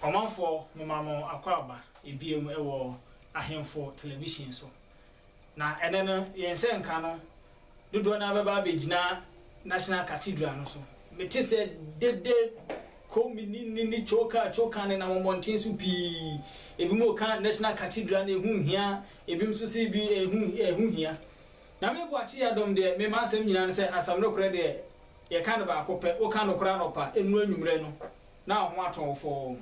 Ɔmanfoɔ momma mo akwaaba ɛbiem wɔ Ahemfo Television so. Na ɛnɛ no yɛn nsɛnka no Dodoɔ no ara bɛba abɛgyina National Cathedral no so. Mete sɛ dede, Koomini ne ne Coka Coka nenam mmɔnten so pii. Ebinom reka National Cathedral no ɛho nhia, ebinom nso se bi ɛho ɛho hia. Nyame Boakye Yiadom deɛ me m'asɛm nyinaa ne sɛ asɛm nokorɛ deɛ yɛka no baako pɛ, woka nokorɛ anɔpa, ɛnuru anwummerɛ no na wo ho atɔ wo fɔɔ.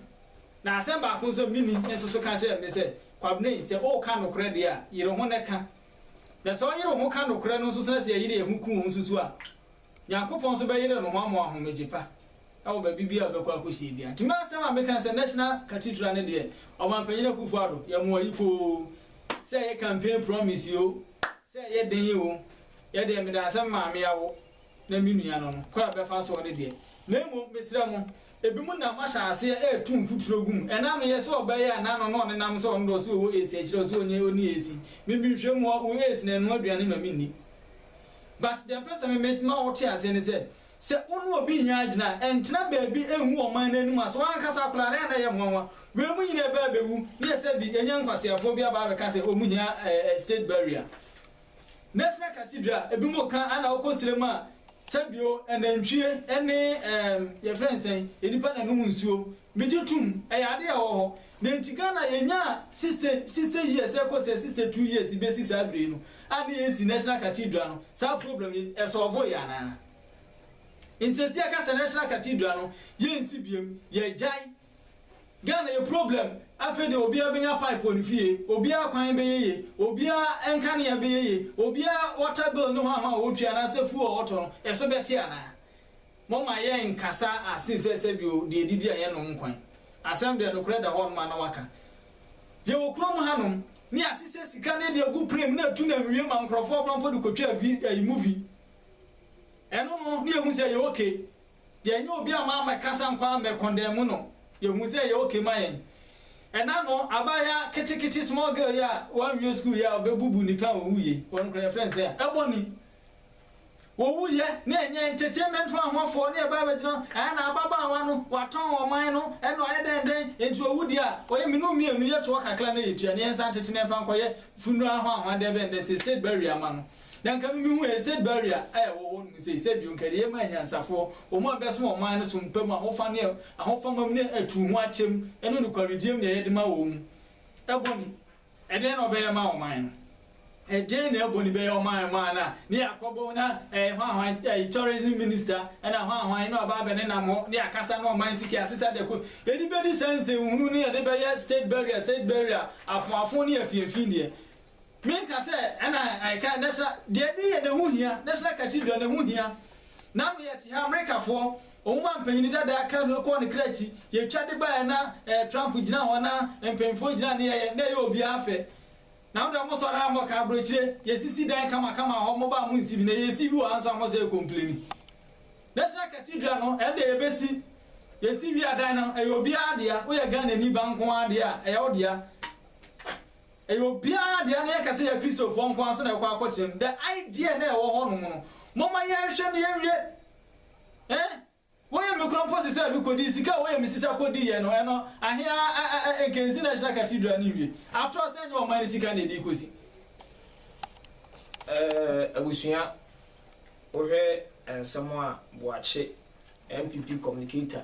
Na asɛm baako nso a menni nso so ka kyerɛɛ me sɛ Kwabena yi sɛ woka nokorɛ deɛ a yere ho na ka. Na sɛ ɔyere ho ka nokorɛ no nso sɛ sɛ yɛyere yɛn ho ku ho nso so a, Nyankopɔn nso bɛyere no ho ama w'ahomegye pa wɔ baabi biara a ɔbɛkɔ akɔsie biara. Nti m'asɛm a meka sɛ National Cathedral no deɛ, Ɔmanpanyin Akuffo Addo, yɛ mo ayiko o, sɛ ɛyɛ campaign promise o, sɛ ɛyɛ den o, yɛ deɛ mede asɛm maa me awo na me nua no no, kwan a ɛbɛfa soɔ no deɛ. Na mmom, mesrɛ mo, Ebinom nam ahyɛ aseɛ retu mfuturo gu mu. Ɛna ano yɛ sɛ ɔbaa yi a n'ano na ɔnenam sɛ ɔno deɛ ɔse ɔwɔ AIDS ɛkyerɛ ɔse ɔnyɛ ɔnni AIDS. Me me nhwɛ mu ɔwɔ AIDS na ɛnoa aduane ma me nni. But deɛ mpɛ sɛ me me ma wo te aseɛ ne sɛ, sɛ wo ne obi nyɛ adwene a, ɛntena baabi ngu ɔman no anim ase. W'ankasa akwadaa no ɛyɛ a na ɛyɛ nwanwa. Wei mo nyinaa ɛbɛ abɛwu ne yɛ sɛ bi ɛnyɛ nkwaseafoɔ bi aba abɛka sɛ wɔn hia eh eh state burial. National Cathedral, ebinom ka ara na wokɔ srɛ mu a, sɛ bio, anantwie ne ɛɛm yɛfrɛ no sɛn, nnipa na ɛnom nsuo. Megye tom, ɛyɛ adeɛ a ɛwɔ hɔ. Na nti Ghana yɛnyaa sixty, sixty years ɛrekɔ sɛ sixty two years yi bɛsi saa berɛ yi no a na yɛnsi National Cathedral no, saa problem yi ɛsɔɔvoeɛ anaa? Nti seesei yɛka sɛ National Cathedral no yɛnsi biom, yɛagyae. Ghana yɛ problem afei deɛ obiara bɛnya pipe wɔ ne fie, obiara kwan bɛyɛ yie, obiara nkanea bɛyɛ yie, obiara water bill ne hwan hwan a ɔtua anaasɛ fuel a ɔtɔ no ɛso bɛte anaa? Momma yɛn nkasa as if sɛ sɛbio deɛ ɛdidi a yɛnom nkwan. Asɛm deɛ nokorɛ da hɔ nom a na waka. Yɛwɔ kurom hanom ne yɛasesɛ sika ne yɛde agu pray mu na ɛtu na nwie ma nkorɔfoɔ kora mpo de kɔtwa vi ɛyi movie. Ɛno no ne yɛhu sɛ ɛyɛ okay. Yɛnyɛ obi a mammɛkasa nkɔ a mɛkɔndɛɛmo no, yɛhuu sɛ ɛyɛ ok ma yɛn. Ɛna no, abaayewa ketekete small girl yi a wanwie sukuu yi a ɔbɛbubu nnipa a wɔwuiɛ, wɔn koraa yɛfrɛ no sɛ Ebony. Wɔwuiɛ na ɛnyɛ entertainment ho ahoɔfɔɔ na yɛbaeɛ bɛgyina hɔ, ɛɛ na ababaawa no watɔn ɔman no ɛna ɔyɛ dɛn dɛn, enti ɔwu deɛ a ɔyɛ me ne wo mmienu yɛtoɔ kakra na yɛtua na yɛnsan ntete na yɛmfa nkɔyɛ funeral ho ahoadeɛ bɛn dɛ sɛ state burial ma no. Na nka me mehu estate barrier a ɛwɔ hɔ nom sei sɛ bio nka ɛde yɛma anyansafoɔ, wɔn a bɛso ɔman no so mpa mu ahofa ne ahofamam ne atuu ho akyɛm ne nokwaredie mu deɛ yɛde ma wɔn mu. Ɛbɔne, ɛdeɛn na ɔbɛyɛ ama ɔman no? Ɛdeɛn na ɛbɔne bɛyɛ ɔman ɔman no a ne yɛ akɔbɔ mu na ɛɛ hwan hwan ɛɛ tourism minister ɛna hwan hwan na ɔba abɛ ne nam hɔ ne akasa ne ɔman sika asesa dɛko yɛde bɛdi saa nsɛnhunu ne yɛde bɛyɛ state barrier state barrier afoafo ne afiafi deɛ Menka sɛ ɛna ɛka ɛnɛ sa, deɛ ɛde yɛ na ɛho hia, National Cathedral na ɛho hia. Ná me yɛte ha, Amerikafoɔ, wɔn a mpanin dada aka no kɔɔ ne kra akyi, yɛtwa de baeɛ na ɛɛ Trump gyina hɔ na mpanyinfoɔ gyina ne yɛyɛ, na ɛyɛ obiara fɛ. Na mo deɛ mo sɔre ara mɔka aburokyire, yɛsisi dan kama kama wɔ hɔ, mo ba a monsi bi, na yɛresi bi wɔ ha nso a mosɛ ɛkompleni. National Cathedral no ɛnde yɛbɛsi, yɛsi wie a dan no ɛyɛ obiara dea, woyɛ Ghanani ba nko ara deɛ a ɛyɛ wo dea. Ɛyɛ obiara dea na yɛka sɛ yɛ Kristofoɔ nko ara nso na ɛkɔ akɔkyerɛ mu. The idea na ɛwɔ hɔ nom no, momma yɛnhwɛ na yɛnwie. Eh? Wɔyɛ me kora mpo sesɛ me kɔdii sika a wɔyɛ me sisa kɔdiiɛ no, ɛno ahe ara ɛnkɛnsi National Cathedral no nwie. After all sɛ ɛnyɛ ɔman no sika na ɛde rekɔsi. Eh, abusua, wohwɛ nsɛm a Boakye, NPP communicator,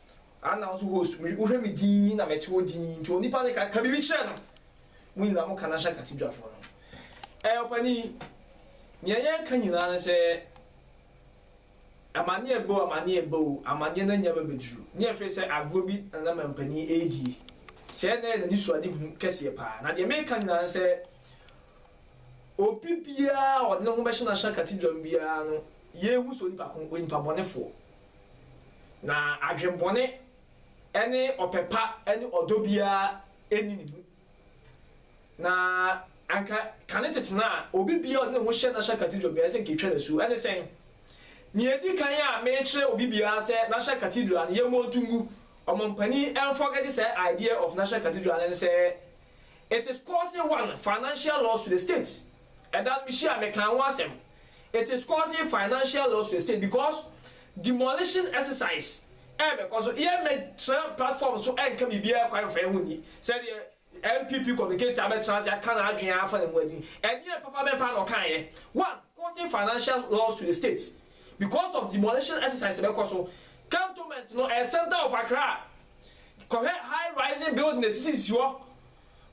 Ah now nso host me wo hwɛ me din na me te hɔ din nti onipa no ka ka biribi kyerɛ no mo nyinaa mo ka no ahyɛ kate dwafoɔ no ɛɛ ɔpanin nea yɛn ka nyinaa no sɛ amaneɛ bɛ o amaneɛ bɛ o amaneɛ na nya bɛ bɛduru ne ɛfɛ sɛ agorɔ bi na na mampanin ɛredie sɛ ɛna yɛ na ne suade hu kɛseɛ paa na deɛ meka nyinaa no sɛ obi biara ɔde ne ho bɛhyɛ no ahyɛ kate dwam biara no yɛhu sɛ onipa ko onipa bɔnefoɔ Na adwemmɔne ne ɔpɛ pa ne ɔdɔ biara nni ne mu. Na anka kane tete no a obi biara a ɔde ne ho hyɛ National Cathedral biara sɛ anka etwa no asu. Ɛne sɛn? Nea edi kan a mekyerɛ obi biara sɛ National Cathedral no, yɛmmɔ nto ngu. Ɔmampanyin ɛmfɔgɛte saa idea of National Cathedral no ne sɛ, it is causing one financial loss to the state. Ɛda no me hyia a me kaa ho asɛm it is causing financial loss to the state because demolition exercise ɛbɛ kɔ so yɛ mɛ tra platform so ɛnka biribiara kwan mfa ɛho nyi sɛ deɛ NPP communicator abɛ tra se aka na adwene afa ne ho adi ɛneɛ papa bɛn paa na ɔkaa yɛ one causing financial loss to the state because of demolition exercise ɛbɛ kɔ so cantonment no ɛyɛ center of Accra kɔhwɛ high rising building na esisisi hɔ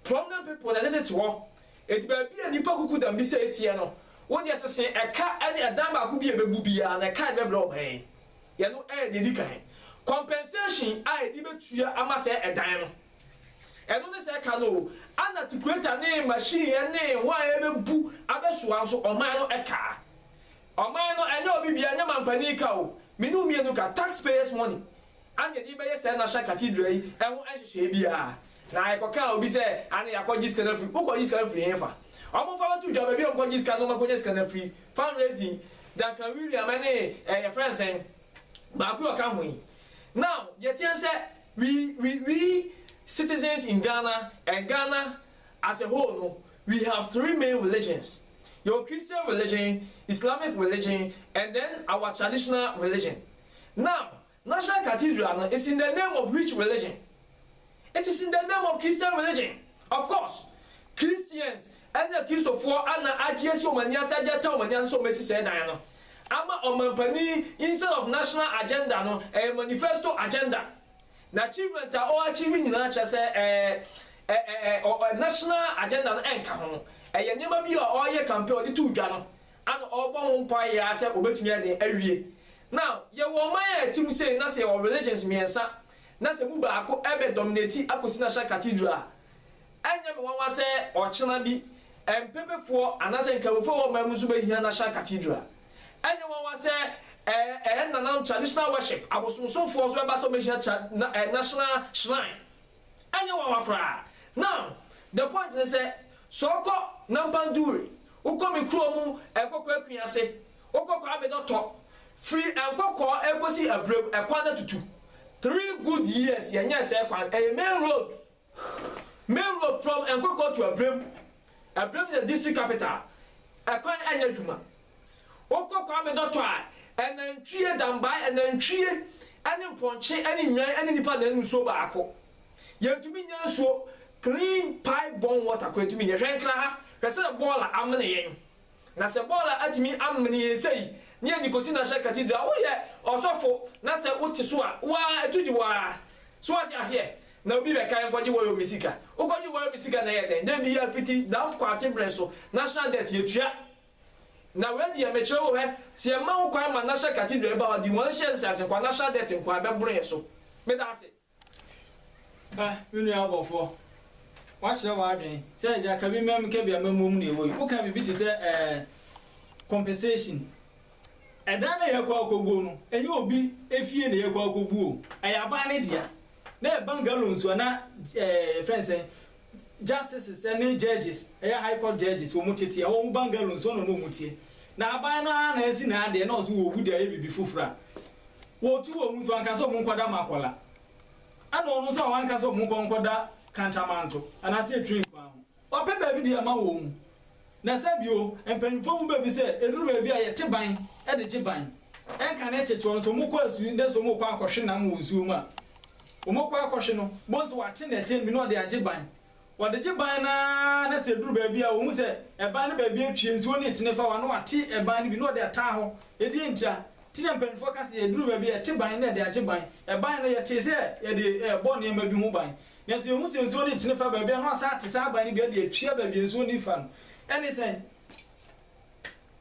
prominent people na ɛtete hɔ. Enti baabi a nnipa kuku da mmisa yi teɛ no, wo deɛ sese ɛka ne ɛdan baako bi a ɛbɛbu biara, na ɛka a ɛbɛbrɛ wo bɛn? Yɛno yɛ deɛ ɛdi kan. Compensation a yɛde bɛtua ama saa ɛdan no, ɛno ne sɛ ɛka no o, ana tipureta ne machine ne ho a ɛbɛbu abɛsoa nso, ɔman no ka? Ɔman no, ɛnyɛ obi biara, ɛnyɛ mampanin ka o, me ne wo mmienu ka, taxpayers money, Anne yɛde bɛyɛ saa National Cathedral yi ho nhyehyɛe biara. Na yɛkɔkaa obi sɛ, Anne yɛakɔgye sika no afiri. Wokɔgye sika no firi hefa? Wɔmfa bɛto dwa baabi a wɔkɔgye sika no, wɔakɔnya sika no afiri. Fundraising, Duncan William ne eh, yɛfrɛ no sɛn? Baako yi a ɔka ho yi. Now, deɛ ɛteɛ ne sɛ, we, we, we citizens in Ghana and Ghana as a whole no, we have three main religions. Yɛwɔ Christian religion, Islamic religion and then our traditional religion. Now, National Cathedral no is in the name of which religion? It is in the name of Christian religion. Of course, Christians ne Akristofoɔ na agye asi wɔn ani ase, agye ata wɔn ani ase sɛ wɔbɛsi saa dan no ama ɔmampanin instead of national agenda no, ɛyɛ manifesto agenda. Na achievement a ɔ achieve nyinaa kyerɛ sɛ ɛɛ ɛ ɛ national agenda no ɛnka ho. Ɛyɛ nneɛma bi a ɔreyɛ campaign, ɔde too dwa no Ana ɔbɔ ho mpae yɛ ara sɛ obetumi ayɛ dɛn awie? Now, yɛwɔ ɔman a ɛte mu sei na sɛ yɛwɔ religions mmiɛnsa na sɛ emu baako bɛ dominate akosi National Cathedral a, ɛnyɛ me nwanwa sɛ ɔkyena bi Mpepefoɔ anaasɛ Nkramofoɔ a ɛwɔ ɔman mu nso bɛhia National Cathedral. Ɛnyɛ nwanwa sɛ ɛɛ yɛn nananom traditional worship, abosomsomfoɔ nso ɛba sɛ wɔbɛhia tra na ɛɛ national shrine. Ɛnyɛ nwanwa koraa. Now, the point ne sɛ, sɛ ɔkɔ Nampan Duri, Wokɔ me kurow mu nkɔkɔɔ akwi ase, wokɔ kɔ abɛdɔ tɔ, firi nkɔkɔɔ kɔsi abirem, ɛkwan no atutu. Three good years yɛnyɛɛ sɛɛ kwan, ɛyɛ main road, main road from nkɔkɔɔ to abirem, abirem yɛ district capital, ɛkwan ɛnyɛ adwuma. Wokɔ kɔ abɛdɔ tɔ a, ɛnantwie, dambae, ɛnantwie ɛne mpɔnkye ɛne nnwan ɛne nnipa na ɛnom nsuo baako. Yɛntumi nnya nsuo, clean pipe borne water koraa yɛntumi nnya. Hwɛ nkra ha, hwɛ sɛdeɛ bɔɔla amene yɛn. Na sɛ bɔɔla atumi amene yɛn sei, ne yɛde kɔsi Nasha Cathedral, woyɛ ɔsɔfo na sɛ wote so a, wo ara ɛto gye wo ara. So woate aseɛ? Na obi bɛka yɛnkɔgye Wayomi sika. Wokɔgye Wayomi sika na ɛyɛ dɛn? Da biara fiti Damp Quarty berɛ so, national debt yɛtua. Na wei deɛ mekyerɛ wo hɛ, sɛ yɛmma ho kwan ma Nasha Cathedral ɛba hɔ a, demolition nse ase nko ara, national debt nko ara, ɛbɛboro yɛn so. Meda wo ase. Ka, me nua ɔbɔfoɔ, woakyerɛ w'adwene sɛ agya ka bi ma me ka bi a ma mmom na ɛwɔ yi. Woka biribi te sɛ ɛɛ compensation. Ɛdan no a yɛkɔ akɔguo no, ɛnyɛ obi efie na yɛkɔ akɔguo o, ɛyɛ aban no dea. Na ɛyɛ bungalows anaa ɛɛ yɛfrɛ no sɛn, Justices ne judges, ɛyɛ high court judges, wɔn tete a wɔwɔ bungalow nso na na wɔn tie. Na aban no ara na asi n'adeɛ na ɔse wɔwu de ayɛ biribi foforo a wɔtu wɔn nso anka sɛ wɔn nkɔda Makola ɛna ɔno nso a wanka sɛ wɔn nkɔ nkɔda Kantamanto anaasɛ Etri nkoa ho. Wapɛ baabi de ama wɔn. Na sɛ bio, mpanyimfoɔ mu bɛ bi sɛ ɛduru baabi a yɛte ban de gye ban, ɛnka ne ntetewa nso, wɔn kɔ asu na sɛ wɔn kɔ akɔhwe nam wɔ nsuo mu a, wɔn kɔ akɔhwe no, bohu sɛ wɔate nnɛteɛ bi na wɔde agye ban. Wɔde gye ban no ara na sɛ ɛduru baabi a wɔhu sɛ ɛban no baabi atwie, nsuo no retene fa hɔ a, na wɔate ɛban no bi na wɔde ataa hɔ, ɛdeɛn ntia? Nti na mpanyimfoɔ ka sɛ ɛduru baabi a yɛte ban na yɛde agye ban, ɛban no yɛtee sɛ yɛde rebɔ nneɛma bi ho ban, Nanso yehu sɛ nsuo no nkyene fa baabi a na wɔasan ate saa aban no bi de atua baabi a nsuo no refa no. Ɛne sɛn?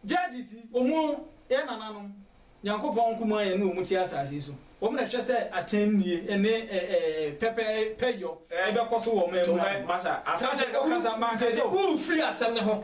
Judges yi, wɔn mu yɛn nananom, Nyankopɔn nkumaa yɛn ne wɔn te asase yi so. Wɔn na ɛhwɛ sɛ atɛnnie ne pɛpɛɛpɛyɔ bɛkɔ so wɔ ɔman mu ha no. Saa na ɛkasa ma aka sɛ, Wofiri asɛm no ho.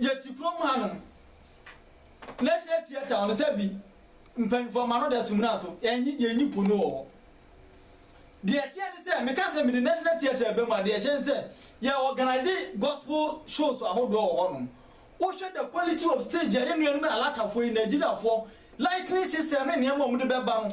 Yɛte kurom hanom. Leshe Tia Town no, sɛbi mpanyimfo ama no daso mmira so, yɛnye yɛnyi po no wɔ hɔ. Deɛ ɛteɛ ne sɛ, meka sɛ mede National Theatre aba mu a, deɛ ɛhyɛ ne sɛ, yɛ organise gospel shows ahodoɔ wɔ hɔnom. Wohwɛ the quality of stage a yɛn nuanom Alatafoɔ yi, Nigeriafoɔ, lighting system ne nneɛma a wɔde bɛba no,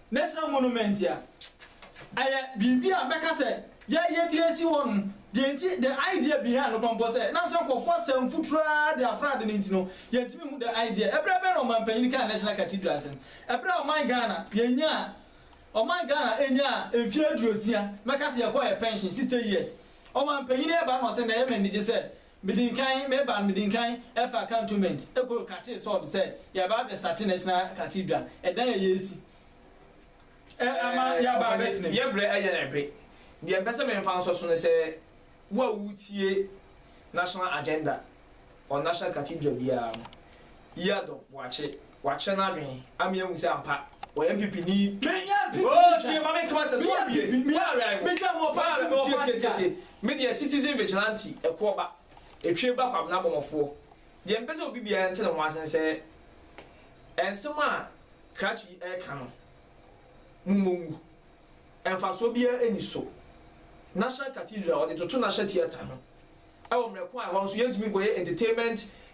National Monument a ɛyɛ biribi a mɛka sɛ yɛayɛ de asi hɔ no, deɛ nti, the idea behind no kɔmpɔ sɛ nam sɛ nkorɔfoɔ asɛ mfuturo ara de afra ade no nti no, yɛntumi nhu the idea. Ɛberɛ bɛn na Ɔmanpanyin kaa National Cathedral asɛm? Ɛberɛ a Ɔman Ghana yɛnyaa, Ɔman Ghana ɛnyaa mfeɛ aduosia, mɛka sɛ yɛkɔɔ yɛn pɛnhyen, sixty years, Ɔmanpanyin ɛba na ɔsɛ na ɛyɛ me anigye sɛ Medin kan meba no medin kan ɛfa cantonment ɛkɔ kakyere sɔɔd sɛ yaba abɛ sate national cathedral ɛdan a yɛɛsi ɛ ama yaba abɛ tena mu. Yɛ brɛ ɛyɛ na ɛpe deɛ mpɛ sɛ me nfa nsɔ so no sɛ wo a wo tie national agenda or national cathedral biara no yɛ adɔ boakye. Wakyerɛ n'adwene ama yɛahu sɛ ampa ɔyɛ NPP ni. Menya NPP ni twa. Oh tie ma menka w'asɛ so abie. Woawerɛ wo. Megya mo ɔpaa tumi tie tie tie tie. Me deɛ citizen vigilante ɛkoɔ ba. Ɛtwie ba kwabena bɔmɔfoɔ. Deɛ mepɛ sɛ obi biara nte ne ho ase nsɛ ɛnsɛm a krakye yi ɛreka no mo mmɔ ngu. Mfasoɔ biara ɛnni so. National cathedral ɔde toto national theatre ho. Ɛwɔ mmerɛko a ɛhɔ nso yɛntumi nkɔyɛ entertainment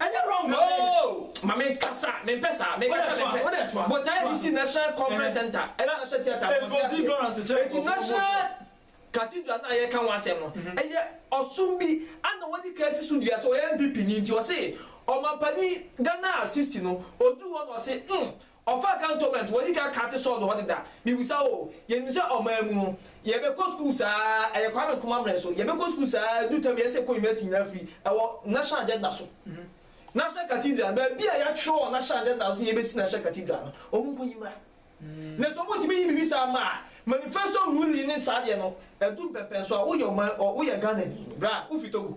Ɛnyɛ wrong na ɔyɛ. Oh ma me nkasa me mpɛ saa me nkasa me mpɛ. Wode toa so. Botaeɛ DC National Conference Center ɛna National Theatre no wɔnte aseɛ. Eti National Cathedral no a yɛreka ho asɛm no ɛyɛ ɔsom bi a na wɔadi kan asi so dua sɛ ɔyɛ NPP ni nti ɔse ɔmampanin Ghana a 60 no ɔduru hɔ na ɔse hmm Ɔfaa cantonment wɔ Nika Kate Sɔɔd hɔ deda. Mibisa wo, yenim sɛ ɔman mu no, yɛbɛkɔ sukuu saa, ɛyɛ Kwame Nkrumah mmrɛ so, yɛbɛkɔ sukuu saa, ɛdu tɛm yɛsɛ yɛkɔ university nyinaa firi, ɛwɔ National Agenda so, National Cathedral, baabi a yɛatwerɛ wɔ National Agenda so sɛ yɛbɛsi National Cathedral no, wɔn nkɔ yi mmra. Na sɛ wɔn ntumi yi biribi saa mma a, manifesto ruling ne saa deɛ no, ɛdu mpɛmpɛnso a, woyɛ ɔman, woyɛ Ghanani, bra, wofiri Togo.